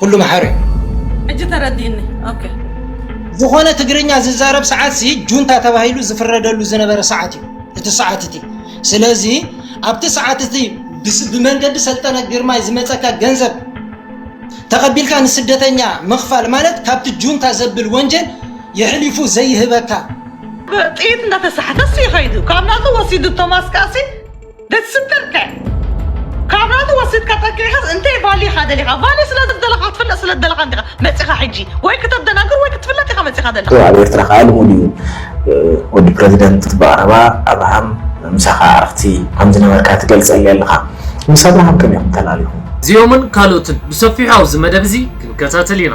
ኩሉ መሓሪ ሕጂ ተረዲእኒ ኦኬ ዝኾነ ትግርኛ ዝዛረብ ሰዓት ሲ ጁንታ ተባሂሉ ዝፍረደሉ ዝነበረ ሰዓት እዩ እቲ ሰዓት እቲ ስለዚ ኣብቲ ሰዓት እቲ ብስ- ብመንገዲ ሰልጠነ ግርማይ ዝመፀካ ገንዘብ ተቐቢልካ ንስደተኛ ምኽፋል ማለት ካብቲ ጁንታ ዘብል ወንጀል የሕሊፉ ዘይህበካ ጥይት እንዳተሳሕተስ እዩ ከይዱ ካብ ናቱ ወሲዱ ቶማስ ካሲ ደትስክርከ ካብ ናቱ ወሲድካ ጠቂዕካስ እንታይ ቫልዩ ኢኻ ደሊኻ ቫልዩ ስለ ዝደለኻ ክትፍለጥ ስለ ዝደለኻ እንዲኻ መጺኻ ሕጂ ወይ ክተደናግር ወይ ክትፍለጥ ኢኻ መጺኻ ደለኻ ኣብ ኤርትራ ከዓ ልሙድ እዩ ወዲ ፕረዚደንት ብቐረባ ኣብርሃም ምሳኻ ኣዕርኽቲ ከም ዝነበርካ ትገልጸሊ ኣለኻ ምስ ኣብርሃም ከመይ ኢኹም ተላሊኹም እዚኦምን ካልኦትን ብሰፊሑ ኣብዚ መደብ እዚ ክንከታተል ኢና።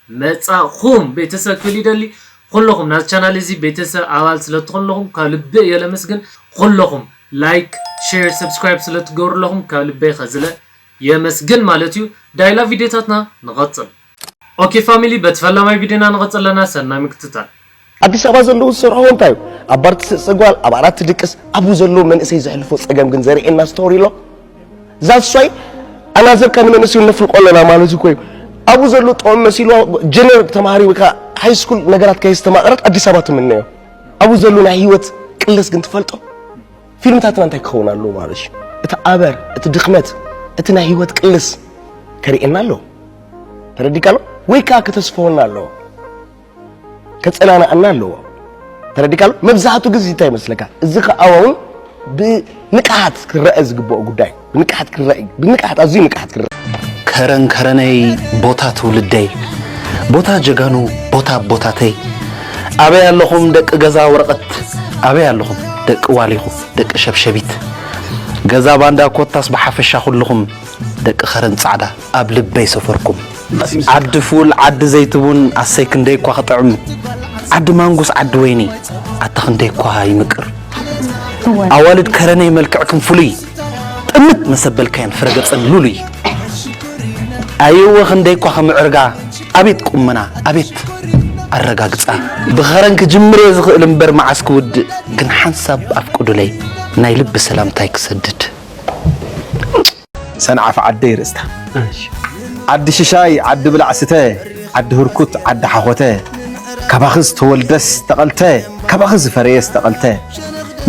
መጻእኹም ቤተሰብ ክብል ይደሊ ኹሎኹም ናዝ ቻናል እዚ ቤተሰብ ኣባል ስለ ትኾኑ ኣለኹም ካብ ልቢ እየ ለመስግን ኹሎኹም ላይክ ሼር ሰብስክራይብ ስለ ትገብሩ ኣለኹም ካብ ልበይ ኸዝለ የመስግን ማለት እዩ ዳይላ ቪድዮታትና ንቐጽል። ኦኬ ፋሚሊ በቲ ፈላማይ ቪድዮና ንቐጽል ኣለና ሰናይ ምክትታል። ኣዲስ ኣበባ ዘለዉ ዝሰርሕዎ እንታይ እዩ ኣብ ባር ትስዕስዕ ጓል ኣብ ዓራት ትድቅስ ኣብኡ ዘለዉ መንእሰይ ዘሕልፎ ፀገም ግን ዘርእየና ስቶሪ ኣሎ ዛሷይ ኣናዘርካ ንመንእሰዩ ነፍልቆ ኣለና ማለት እኮ እዩ ኣብኡ ዘለዉ ጥዑም መሲልዋ ጀነር ተማሃሪ ወይ ከዓ ሃይስኩል ነገራት ከየስተማቕረት ኣዲስ ኣበባ ትምነዮ ኣብኡ ዘለዉ ናይ ህይወት ቅለስ ግን ትፈልጦ ፊልምታትና እንታይ ክኸውን ኣለዎ ማለት እዩ እቲ ኣበር እቲ ድኽመት እቲ ናይ ህይወት ቅልስ ከርእየና ኣለዎ ተረዲካ ኣሎ ወይ ከዓ ከተስፈወና ኣለዎ ከጸናንዓና ኣለዎ ተረዲካሉ መብዛሕቱ ግዜ እንታይ ይመስለካ እዚ ከኣውን እውን ብንቅሓት ክረአ ዝግብኦ ጉዳይ ብንቅሓት ክረአ ብንቅሓት ኣዝዩ ንቅሓት ክረአ ከረን ከረነይ ቦታ ትውልደይ ቦታ ጀጋኑ ቦታ ቦታተይ ኣበይ ኣለኹም ደቂ ገዛ ወረቐት ኣበይ ኣለኹም ደቂ ዋሊኹ ደቂ ሸብሸቢት ገዛ ባንዳ ኮታስ ብሓፈሻ ኩልኹም ደቂ ከረን ፃዕዳ ኣብ ልበይ ሰፈርኩም ዓዲ ፉል ዓዲ ዘይትቡን ኣሰይ ክንደይ እኳ ክጥዕም ዓዲ ማንጉስ ዓዲ ወይኒ ኣታ ክንደይ እኳ ይምቅር ኣዋልድ ከረነይ መልክዕክም ፍሉይ ጥምት መሰበልካየን ፍረገፀን ሉሉይ ኣየወ ክንደይ እኳ ከምዕርጋ ኣቤት ቁመና ኣቤት ኣረጋግፃ ብኸረን ክጅምር እየ ዝኽእል እምበር መዓስ ክውድእ ግን ሓንሳብ ኣፍቅዱለይ ናይ ልቢ ሰላምታይ ክሰድድ ሰንዓፈ ዓደይ ርእስታ ዓዲ ሽሻይ ዓዲ ብላዕ ስተ ዓዲ ህርኩት ዓዲ ሓኾተ ካባኺ ዝተወልደስ ተቐልተ ካባኺ ዝፈረየስ ተቐልተ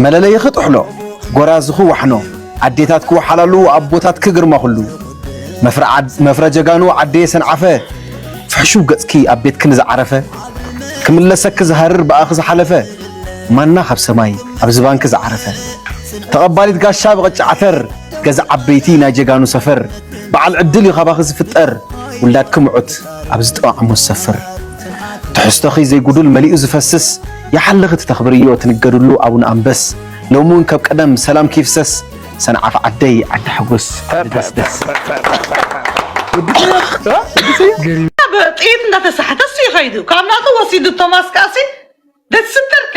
መለለይኺ ጥሕሎ ጎራዝኺ ዋሕኖ ኣዴታትኪ ወሓላሉ ኣቦታትኪ ግርማ ኩሉ መፍረ ጀጋኑ ዓደየ ሰንዓፈ ፍሕሹው ገጽኪ ኣብ ቤትኪ ንዝዓረፈ ክምለሰኪ ዝሃርር ብኣኺ ዝሓለፈ ማና ካብ ሰማይ ኣብ ዝባንኪ ዝዓረፈ ተቐባሊት ጋሻ ብቕጫ ዓተር ገዛ ዓበይቲ ናይ ጀጋኑ ሰፈር በዓል ዕድል እዩ ካባኺ ዝፍጠር ውላድኪ ምዑት ኣብ ዝጠዋዕሞ ዝሰፍር ትሕዝቶኺ ዘይጉዱል መሊኡ ዝፈስስ ይሓልኺ ትተኽብርዮ ትንገድሉ ኣቡነ ኣንበስ ሎሚ እውን ከብ ቀደም ሰላምኪ ይፍሰስ ሰንዓፈ ዓደይ ዓዲ ሓጎስ ዓዲ ደስደስ ጥይት እንዳተሳሕተ እሱ ይኸይዱ ካብ ናቱ ወሲዱ ቶማስ ካሲ ደስብተርከ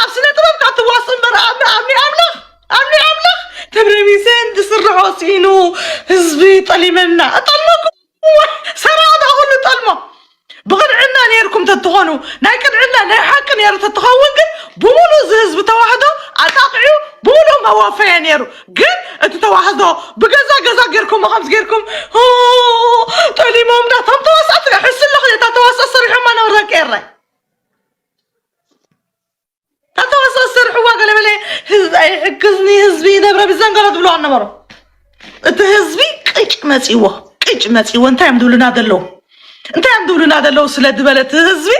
ኣብ ስነ ጥበብ ካብ ትዋሱ እምበር ኣምኒ ኣምኒ ኣምላኽ ኣምኒ ኣምላኽ ተብረሚሰን ዝስርሖ ሲኢኑ ህዝቢ ጠሊመና እጠልመኩም ሰራቕና ኩሉ ጠልሞ ብቕንዕና ነይርኩም ተትኾኑ ናይ ቅንዕና ናይ ሓቂ ነይሩ ተትኸውን ግን ብምሉእ እዚ ህዝቢ ተዋህዶ ኣጣቕዑ ብምሉእ መወፈየ ነይሩ ግን እቲ ተዋህዶ ብገዛ ገዛ ጌርኩም ከምዚ ጌርኩም ኦ፣ ጠሊሞምና እቶም ተዋሳእቲ ሕስሎ ክልተ ተዋሳእ ሰሪሖማ ናብ ረቄረ ኣተዋስኦ ዝሰርሕዋ ገለ በለ ህዝቢ ኣይሕግዝኒ ህዝቢ ይነብረ ብዘንገሎ ትብሎ ኣነበሮ እቲ ህዝቢ ቅጭ መፂዎ ቅጭ መፂዎ እንታይ እዮም ዝብሉና ዘለዉ እንታይ እዮም ዝብሉና ዘለዉ ስለ ዝበለ እቲ ህዝቢ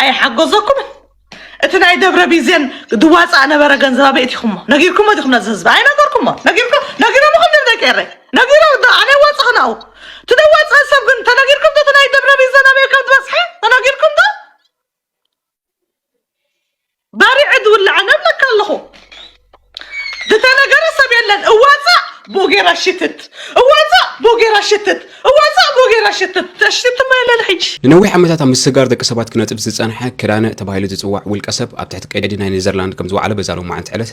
ኣይሓገዘኩምን እቲ ናይ ደብረ ቢዜን ድዋፃእ ነበረ ገንዘብ ኣበይ እቲኹሞ ነጊርኩሞ ዲኹም ነዚ ህዝቢ ኣይነገርኩሞ ነጊርኩ ነጊሮም ኹም ድም ደቂ ኤረይ ነጊሮም ዶ ኣነ ዋፅእ ክናኡ እቲ ደዋፅእ ሰብ ግን ተነጊርኩም ዶ እቲ ናይ ደብረ ቢዜን ኣበይ ከም ዝበፅሐ ተነጊርኩም ዶ ባሪዐ ዝውላዕ ኣነ እብለካ ኣለኹ ዝተነገረ ሰብ የለን እዋፃእ ብኡ ጌራ ሽትት እዋፃእ ብኡ ጌራ ሽትት እዋፃእ ብኡ ጌራ ሽትት ተሽትትማ የለን ሕጂ ንነዊሕ ዓመታት ኣብ ምስጋር ደቂ ሰባት ክነጥፍ ዝጸንሐ ክዳነ ተባሂሉ ዝጽዋዕ ውልቀ ሰብ ኣብ ትሕቲ ቀይዲ ናይ ኔዘርላንድ ከም ዝወዓለ በዛ ሎማዓንቲ ዕለት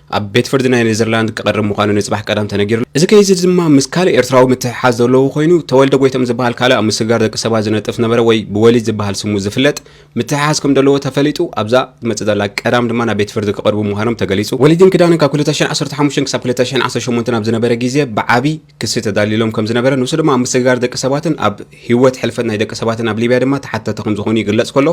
ኣብ ቤት ፍርዲ ናይ ኔዘርላንድ ክቐርብ ምዃኑ ንጽባሕ ቀዳም ተነጊሩሉ። እዚ ኬዝ እዚ ድማ ምስ ካልእ ኤርትራዊ ምትሕሓዝ ዘለዎ ኮይኑ፣ ተወልደ ጎይቶም ዝበሃል ካልእ ኣብ ምስግጋር ደቂ ሰባት ዝነጥፍ ዝነበረ ወይ ብወሊድ ዝበሃል ስሙ ዝፍለጥ ምትሕሓዝ ከም ዘለዎ ተፈሊጡ ኣብዛ ትመጽእ ዘላ ቀዳም ድማ ናብ ቤት ፍርዲ ክቐርቡ ምዃኖም ተገሊጹ። ወሊድን ኪዳንን ካብ ክልተ ሽሕን ዓሰርተ ሓሙሽተን ክሳብ ክልተ ሽሕን ዓሰርተ ሸሞንተን ኣብ ዝነበረ ግዜ ብዓቢ ክሲ ተዳልዩሎም ከም ዝነበረ ንሱ ድማ ኣብ ምስግጋር ደቂ ሰባትን ኣብ ህይወት ሕልፈት ናይ ደቂ ሰባትን ኣብ ሊብያ ድማ ተሓተቲ ከም ዝኾኑ ይግለጽ ከሎ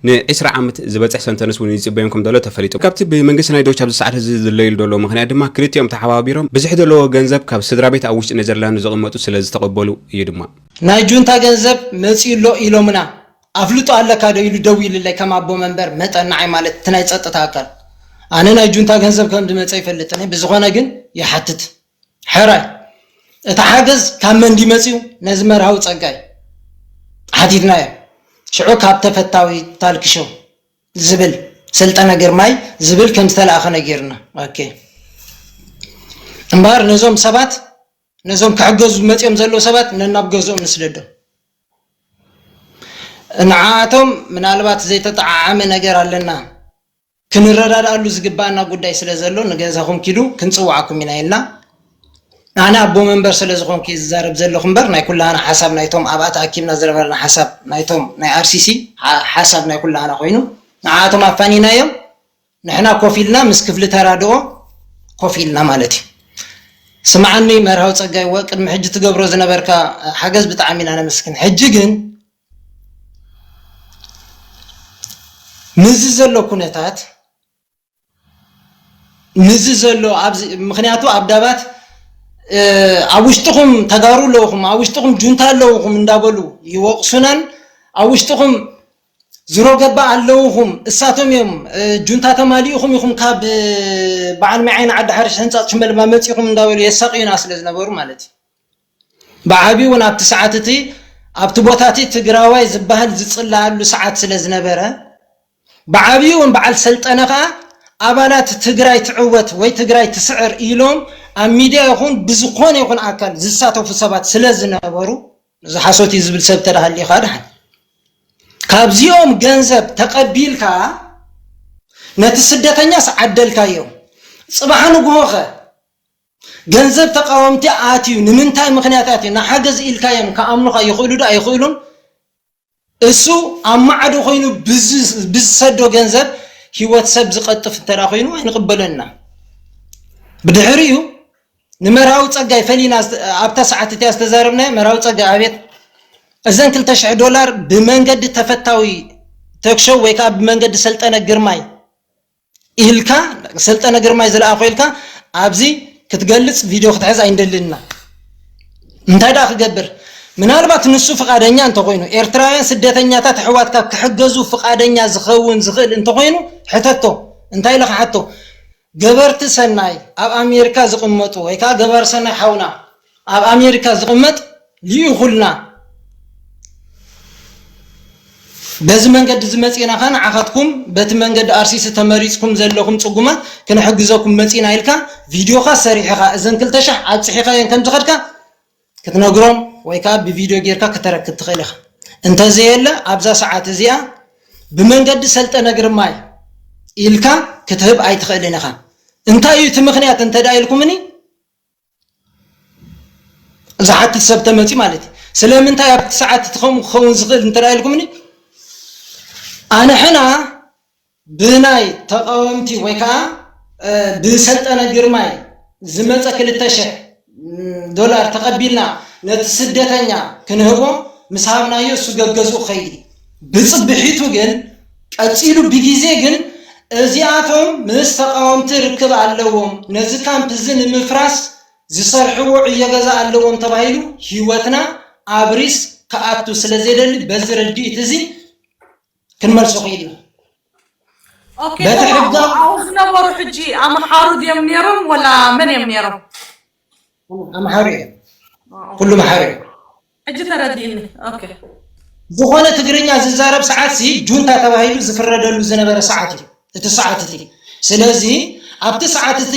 ንዒስራ ዓመት ዝበጽሕ ሰንተንስ እውን ይጽበዮም ከም ዘሎ ተፈሊጡ። ካብቲ ብመንግስቲ ናይ ዶች ኣብዚ ሰዓት እዚ ዝድለዩሉ ዘለዉ ምኽንያት ድማ ክልቲኦም ተሓባቢሮም ብዝሒ ዘለዎ ገንዘብ ካብ ስድራቤት ኣብ ውሽጢ ኔዘርላንድ ዝቕመጡ ስለ ዝተቐበሉ እዩ ድማ። ናይ ጁንታ ገንዘብ መጺኡ ኣሎ ኢሎምና። ኣፍልጦ ኣለካ ዶ ኢሉ ደዊልለይ ከም ኣቦ መንበር መጠን ንዓይ ማለት እቲ ናይ ጸጥታ ኣካል። ኣነ ናይ ጁንታ ገንዘብ ከም ዝመጸ ኣይፈልጥን እየ ብዝኾነ ግን ይሓትት። ሕራይ እቲ ሓገዝ ካብ መን ድዩ መጺኡ ነዚ መርሃዊ ጸጋይ ሓቲትናዮ ሽዑ ካብ ተፈታዊ ታልክ ሾው ዝብል ሰልጠነ ግርማይ ዝብል ከም ዝተላእከ ነጊርና ኦኬ እምበኣር ነዞም ሰባት ነዞም ክሕገዙ መጺኦም ዘለዉ ሰባት ነናብ ገዝኦም ንስደዶም ንዓኣቶም ምናልባት ዘይተጠዓዓመ ነገር ኣለና ክንረዳድኣሉ ዝግበኣና ጉዳይ ስለ ዘሎ ንገዛኹም ኪዱ ክንጽውዓኩም ኢና ኢልና። ኣነ ኣቦ መንበር ስለ ዝኾንኩ እየ ዝዛረብ ዘለኹ እምበር ናይ ኩላህና ሓሳብ ናይቶም ኣብኣ ተኣኪብና ዝነበርና ሓሳብ ናይቶም ናይ ኣርሲሲ ሓሳብ ናይ ኩላህና ኮይኑ ንዓኣቶም ኣፋኒናዮም ንሕና ኮፍ ኢልና ምስ ክፍሊ ተራድኦ ኮፍ ኢልና ማለት እዩ። ስምዓኒ መርሃዊ ጸጋይ ወ ቅድሚ ሕጂ ትገብሮ ዝነበርካ ሓገዝ ብጣዕሚ ኢና ነመስግን ሕጂ ግን ምስዚ ዘሎ ኩነታት ምስዚ ዘሎ ኣብዚ ምክንያቱ ኣብ ዳባት ኣብ ውሽጥኹም ተጋሩ ኣለውኹም ኣብ ውሽጥኹም ጁንታ ኣለውኹም እንዳበሉ ይወቕሱናን ኣብ ውሽጥኹም ዝሮ ገባ ኣለውኹም እሳቶም እዮም ጁንታ ተማሊኡኹም ኢኹም ካብ በዓል መዓይን ዓዲ ሓርሽ ህንፃት ሽመልባ መፂኹም እንዳበሉ የሳቅዩና ስለ ዝነበሩ ማለት እዩ ብዓቢኡውን ኣብቲ ሰዓት እቲ ኣብቲ ቦታ እቲ ትግራዋይ ዝበሃል ዝፅለኣሉ ሰዓት ስለ ዝነበረ ብዓቢኡውን በዓል ሰልጠነ ከኣ ኣባላት ትግራይ ትዕወት ወይ ትግራይ ትስዕር ኢሎም ኣብ ሚድያ ይኹን ብዝኾነ ይኹን ኣካል ዝሳተፉ ሰባት ስለ ዝነበሩ እዚ ሓሶት እዩ ዝብል ሰብ ተዳሃሊኻ ድሓን ካብዚኦም ገንዘብ ተቐቢልካ ነቲ ስደተኛስ ዓደልካዮ ጽባሕ ንግሆኸ ገንዘብ ተቃወምቲ ኣትዩ ንምንታይ ምክንያት ኣትዩ ንሓገዝ ኢልካዮም ክኣምኑካ ይክእሉ ዶ ኣይክእሉን እሱ ኣብ ማዕዶ ኮይኑ ብዝሰዶ ገንዘብ ሂወት ሰብ ዝቀጥፍ እንተ ኮይኑ ኣይንቅበሎን ኢና ብድሕሪኡ ንመርሃዊ ፀጋይ ፈሊና ኣብታ ሰዓት እቲያ ዝተዛረብናዮ መርሃዊ ፀጋይ ኣቤት እዘን ክልተ ሽሕ ዶላር ብመንገዲ ተፈታዊ ተክሸው ወይ ከዓ ብመንገዲ ሰልጠነ ግርማይ ኢልካ ሰልጠነ ግርማይ ዝለኣኾ ኢልካ ኣብዚ ክትገልጽ ቪድዮ ክትሕዝ ኣይንደልን ኢና እንታይ ደኣ ክገብር ምናልባት ንሱ ፍቓደኛ እንተኾይኑ ኤርትራውያን ስደተኛታት ኣሕዋትካ ክሕገዙ ፍቓደኛ ዝኸውን ዝኽእል እንተኾይኑ ሕተቶ እንታይ ኢለ ክሓቶ ገበርቲ ሰናይ ኣብ ኣሜሪካ ዝቕመጡ ወይ ከዓ ገባር ሰናይ ሓውና ኣብ ኣሜሪካ ዝቕመጥ ልኢኹልና በዚ መንገዲ እዚ መጺእና ከ ንዓኻትኩም በቲ መንገዲ ኣርሲሲ ተመሪጽኩም ዘለኹም ጽጉማት ክንሕግዘኩም መጺእና ኢልካ ቪድዮኻ ሰሪሕኻ እዘን ክልተ ሸሕ ኣብጽሒኻየን ከም ዝኸድካ ክትነግሮም ወይ ከዓ ብቪድዮ ጌርካ ክተረክብ ትኽእል ኢኻ እንተዘየለ ኣብዛ ሰዓት እዚኣ ብመንገዲ ሰልጠነ ግርማይ ኢልካ ክትህብ ኣይትኽእልን ኢኻ እንታይ እዩ እቲ ምኽንያት እንተ ኢልኩምኒ ዝሓትት ሰብ ተመፅዩ ማለት እዩ ስለምንታይ ኣብቲ ሰዓት እቲ ከምኡ ክኸውን ዝኽእል እንተ ኢልኩምኒ ኣንሕና ብናይ ተቃወምቲ ወይ ከዓ ብሰልጠነ ግርማይ ዝመፀ ክልተ ሽሕ ዶላር ተቐቢልና ነቲ ስደተኛ ክንህቦ ምስ ሃብናዮ እሱ ገገዝኡ ኸይዲ ብፅብሒቱ ግን ቀጺሉ ብጊዜ ግን እዚኣቶም ምስ ተቓወምቲ ርክብ ኣለዎም፣ ነዚ ካምፕ እዚ ንምፍራስ ዝሰርሕዎ ዕዮ ገዛ ኣለዎም ተባሂሉ ህይወትና ኣብ ሪስክ ክኣቱ ስለ ዘይደሊ በዚ ርድኢት እዚ ክንመልሶ ክኢልና። ኦኬ በቲ ተማም ሕጋዊ ኣብኡ ዝነበሩ ሕጂ ኣምሓሩ ድዮም ነይሮም ወላ መን እዮም ነይሮም? ኣምሓሩ እዮም ኩሉ ኣምሓሩ እዮም ሕጂ ተረዲእኒ ኦኬ ዝኾነ ትግርኛ ዝዛረብ ሰዓት ሲ ጁንታ ተባሂሉ ዝፍረደሉ ዝነበረ ሰዓት እዩ እቲ ሰዓት እቲ ስለዚ ኣብቲ ሰዓት እቲ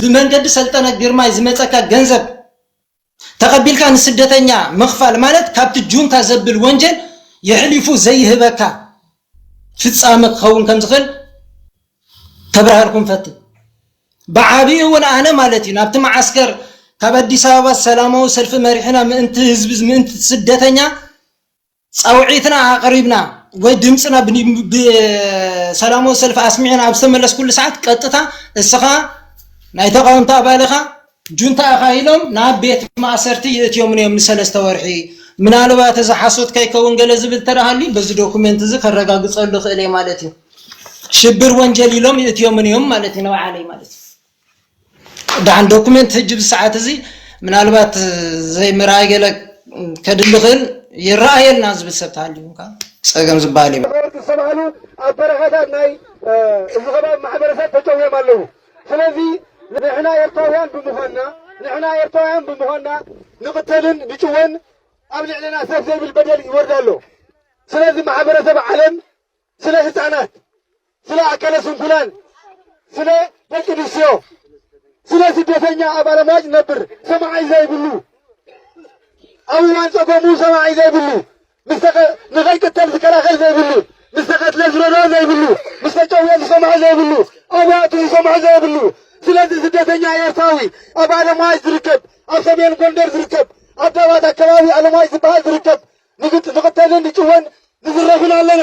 ብመንገዲ ሰልጠነ ግርማይ ዝመፀካ ገንዘብ ተቐቢልካ ንስደተኛ ምኽፋል ማለት ካብቲ ጁንታ ዘብል ወንጀል የሕሊፉ ዘይህበካ ፍፃመ ክኸውን ከም ዝኽእል ከብርሃልኩም ፈትን ብዓብኡ እውን ኣነ ማለት እዩ ናብቲ መዓስከር ካብ ኣዲስ ኣበባ ሰላማዊ ሰልፊ መሪሕና ምእንቲ ህዝቢ ምእንቲ ስደተኛ ፃውዒትና ኣቕሪብና ወይ ድምፅና ብሰላማዊ ሰልፊ ኣስሚዕና ኣብ ዝተመለስኩሉ ሰዓት ቀጥታ እስኻ ናይ ተቃወምቲ ኣባል ኢኻ ጁንታ እኻ ኢሎም ናብ ቤት ማእሰርቲ ይእትዮምኒ እዮም ንሰለስተ ወርሒ ምናልባት እዚ ሓሶት ከይከውን ገለ ዝብል ተረሃልዩ በዚ ዶኩመንት እዚ ከረጋግጸሉ ክእል እየ ማለት እዩ ሽብር ወንጀል ኢሎም ይእትዮምን እዮም ማለት እዩ ንበዓለይ ማለት እዩ ዳን ዶኩመንት ህጅ ብሰዓት እዚ ምናልባት ዘይምርኣይ ገለ ከድሊ ክእል ይረኣየልና ዝብል ሰብ ተሃልዩ እንካ ፀገም ዝበሃል እዩ ነበርቲ ዝተባህሉ ኣብ በረኻታት ናይ እዚ ከባቢ ማሕበረሰብ ተጨውዮም ኣለዉ ስለዚ ንሕና ኤርትራውያን ብምዃንና ንሕና ኤርትራውያን ብምዃንና ንቕተልን ንጭወን ኣብ ልዕለና ሰፍ ዘይብል በደል ይወርድ ኣሎ። ስለዚ ማሕበረሰብ ዓለም ስለ ህፃናት፣ ስለ ኣካለ ስንኩላን፣ ስለ ደቂ ኣንስትዮ፣ ስለ ስደተኛ ኣብ ኣለማጭ ነብር ሰማዓይ ዘይብሉ ኣብ እዋን ፀገሙ ሰማዓይ ዘይብሉ ምስ ተቐ ንኸይቅተል ዝከላኸል ዘይብሉ፣ ምስ ተቐትለ ዝረድኦ ዘይብሉ፣ ምስ ተጨውየ ዝሰምዖ ዘይብሉ፣ ኣበይ ኣትዩ ዝሰምዖ ዘየብሉ። ስለዚ ስደተኛ ኤርትራዊ ኣብ ኣለምዋይ ዝርከብ፣ ኣብ ሰሜን ጎንደር ዝርከብ፣ ኣብ ዳባት ኣከባቢ ኣለምዋይ ዝበሃል ዝርከብ ንግጥ ንቕተልን ንጭወን ንዝረፍን ኣለና።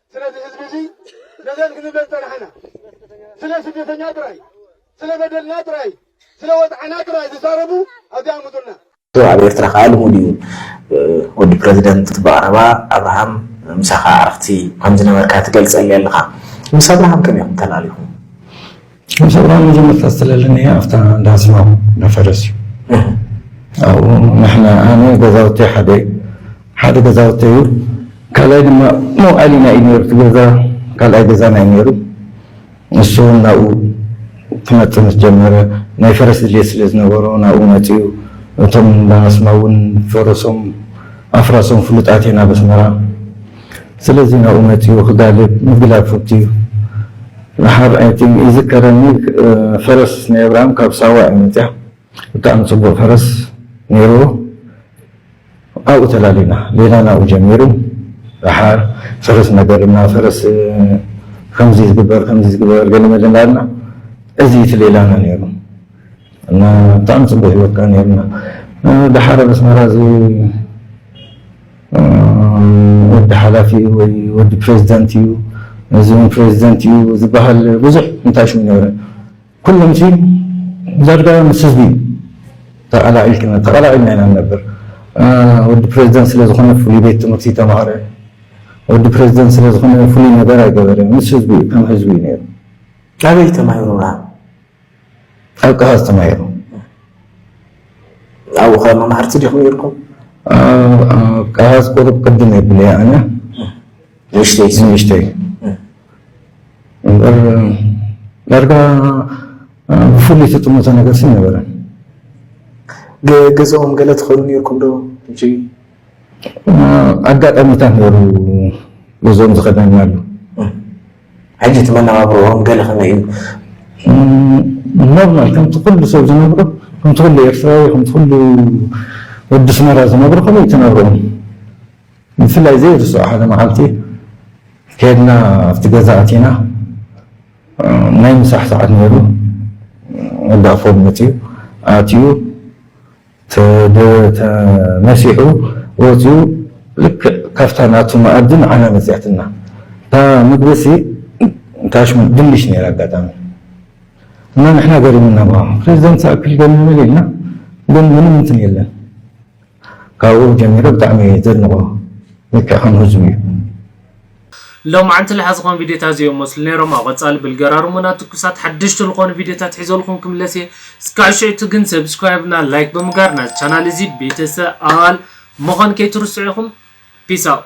ስለ እዚ ህዝቢ እዚ ነዘንግንለን ፀናሕና ስለ ስደተኛ ጥራይ፣ ስለ በደልና ጥራይ፣ ስለ ወፅዓና ጥራይ ዝዛረቡ ኣብዚኣ ኣምፁልና። ኣብ ኤርትራ ከኣ ልሙድ እዩ ወዲ ፕረዚደንት ብቐረባ ኣብርሃም ምሳኻ ኣዕርኽቲ ከምዝነበርካ ትገልጸለይ ኣለኻ ምስ ኣብርሃም ከመይ ኢኹም ተላሊኹም? ሙሰባ መጀመርታ ዝተለለንዮ ኣብታ እንዳ ዝማም እንዳ ፈረስ እዩ ኣብኡ ንሕና ኣነ ገዛውተይ ሓደ እዩ ሓደ ገዛውተይ እዩ ካልኣይ ድማ መውዓሊና እዩ ነይሩ እቲ ገዛ ካልኣይ ገዛና እዩ ነይሩ ንሱ እውን ናብኡ ክመፅእ ምስ ጀመረ ናይ ፈረስ ድልየት ስለ ዝነበሮ ናብኡ መፂኡ እቶም እንዳ ኣስማ እውን ፈረሶም ኣፍራሶም ፍሉጣት እየን ኣብ ኣስመራ ስለዚ ናብኡ መጺኡ ክጋልብ ምግላብ ፍቱው እዩ። ንሓር ኣይ ቲንክ ይዝከረኒ ፈረስ ናይ ኣብርሃም ካብ ሳዋ እያ መጺኣ ብጣዕሚ ጽቡቅ ፈረስ ነይርዎ ኣብኡ ተላሊና ሌላ ናብኡ ጀሚሩ ድሓር ፈረስ እናጋልብና ፈረስ ከምዚ ዝግበር ከምዚ ዝግበር ገለ መለ እንዳልና እዚ እዩ እቲ ሌላና ነይሩ እና ብጣዕሚ ጽቡቅ ሂወት ከኣ ነይርና ድሓር ኣብ ኣስመራ እዚ ወዲ ሓላፊ እዩ ወይ ወዲ ፕሬዚደንት እዩ እዚ ውን ፕሬዚደንት እዩ ዝበሃል ብዙሕ እንታይ ሽም ነበረ ኩሎም ሲ ዛድጋ ምስ ህዝቢ እዩ ተቐላዒልክና ተቐላዒልና ኢና ንነብር ወዲ ፕሬዚደንት ስለ ዝኾነ ፍሉይ ቤት ትምህርቲ ተማሃረ ወዲ ፕሬዚደንት ስለ ዝኾነ ፍሉይ ነገር ኣይገበረ ምስ ህዝቢ እዩ ከም ህዝቢ እዩ ነይሩ ኣበይ ተማሂሩና ጣልቃ ዝተማየሩ ኣብኡ ከ መማህርቲ ዲኹም ነይርኩም? ቃላት ቁሩብ ቅድም የብለ እየ ኣነ ንእሽተይ ንእሽተይ እምበር ዳርጋ ብፍሉይ ተጥምቶ ነገር ስም ነበረን። ገዛኦም ገለ ትኸኑ ነይርኩም ዶ? ኣጋጣሚታት ነሩ ገዝኦም ዝኸደናሉ ሕጂ እቲ መነባብሮኦም ገለ ከመይ እዩ? ኖርማል ከምቲ ኩሉ ሰብ ዝነብሮ ከምቲ ኩሉ ኤርትራዊ ከምቲ ኩሉ ወዲ ኣስመራ ዝነብሮ ከምኡ እዩ እቲ ናብርኦም። ብፍላይ ዘይርስዖ ሓደ መዓልቲ ከድና ኣብቲ ገዛ ኣቲና ናይ ምሳሕ ሰዓት ነይሩ ወዲ ኣፎም መጺኡ ኣትዩ ተመሲሑ ወጺኡ ልክዕ ካብታ ናቱ መኣዲ ንዓና መጺኣትና። እታ ምግቢሲ ታሽ ድንሽ ነይራ ኣጋጣሚ እና ንሕና ገሪሙና ብሃም ፕረዚደንት ዝኣክል ገሪሙና ኢልና ግን ምንም እንትን የለን። ካብኡ ጀሚረ ብጣዕሚ እየ ዘድንቖ ልክዕ ከም ህዝቡ እዩ። ሎምዓንቲ ልሓ ዝኮን ቪድዮታት ዝዮም መስሉ ነይሮም ኣብ ቀፃሊ ብልገራርሙና ትኩሳት ሓደሽቲ ልኮኑ ቪድዮታት ሒዘልኩም ክምለስ እየ እስካዕ ሽዕቱ ግን ሰብስክራይብ እና ላይክ ብምጋር ናዚ ቻናል እዚ ቤተሰኣል ምኮን ከይትርስዑ ኢኩም ፒስ ኣውት።